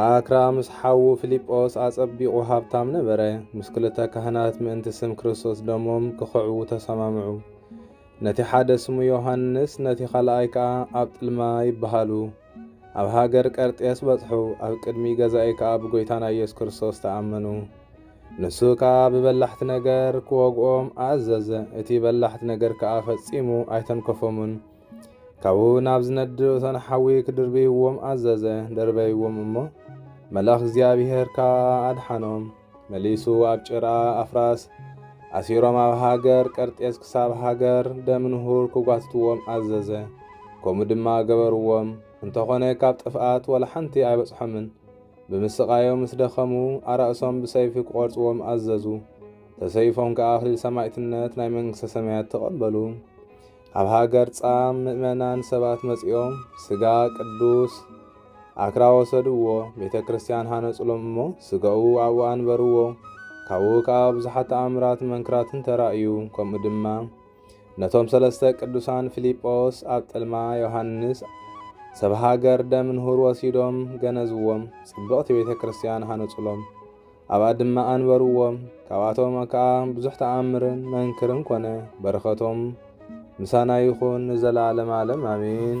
ኣክራ ምስ ሓዉ ፊልጶስ ኣጸቢቑ ሃብታም ነበረ። ምስ ክልተ ካህናት ምእንቲ ስም ክርስቶስ ደሞም ኪኽዕዉ ተሰማምዑ። ነቲ ሓደ ስሙ ዮሃንስ፣ ነቲ ኻልኣይ ከኣ ኣብጥልማ ይብሃሉ። ኣብ ሃገር ቀርጤስ በጽሑ፣ ኣብ ቅድሚ ገዛኢ ከኣ ብጐይታና ኢየሱስ ክርስቶስ ተኣመኑ። ንሱ ከኣ ብበላሕቲ ነገር ኪወግኦም ኣእዘዘ፣ እቲ በላሕቲ ነገር ከኣ ፈጺሙ ኣይተንከፎምን። ካብኡ ናብ ዝነድድ እቶን ሓዊ ክድርብይዎም ኣዘዘ። ደርበይዎም እሞ መልኣኽ እግዚኣብሄር ከኣ ኣድሓኖም። መሊሱ ኣብ ጭራ ኣፍራስ ኣሲሮም ኣብ ሃገር ቀርጤስ ክሳብ ሃገር ደምንሁር ክጓትትዎም ኣዘዘ። ከምኡ ድማ ገበርዎም። እንተኾነ ካብ ጥፍኣት ወላ ሓንቲ ኣይበጽሖምን። ብምስቓዮም ምስ ደኸሙ ኣራእሶም ብሰይፊ ክቖርጽዎም ኣዘዙ። ተሰይፎም ከኣ ኣኽሊል ሰማዕትነት ናይ መንግስተ ሰማያት ተቐበሉ። ኣብ ሃገር ጻም ምእመናን ሰባት መጺኦም ስጋ ቅዱስ ኣክራ ወሰድዎ፣ ቤተ ክርስቲያን ሃነጹሎም እሞ ስጋኡ ኣብኡ ኣንበርዎ። ካብኡ ከኣ ብዙሓት ተኣምራትን መንክራትን ተራእዩ። ከምኡ ድማ ነቶም ሰለስተ ቅዱሳን ፊልጶስ ኣብ ጥልማ ዮሃንስ ሰብ ሃገር ደምንሁር ወሲዶም ገነዝዎም፣ ጽብቕቲ ቤተ ክርስቲያን ሃነጹሎም። ኣብኣ ድማ ኣንበርዎም። ካብኣቶም ከኣ ብዙሕ ተኣምርን መንክርን ኮነ። በረኸቶም ምሳና ይኹን ንዘለዓለም ዓለም ኣሜን።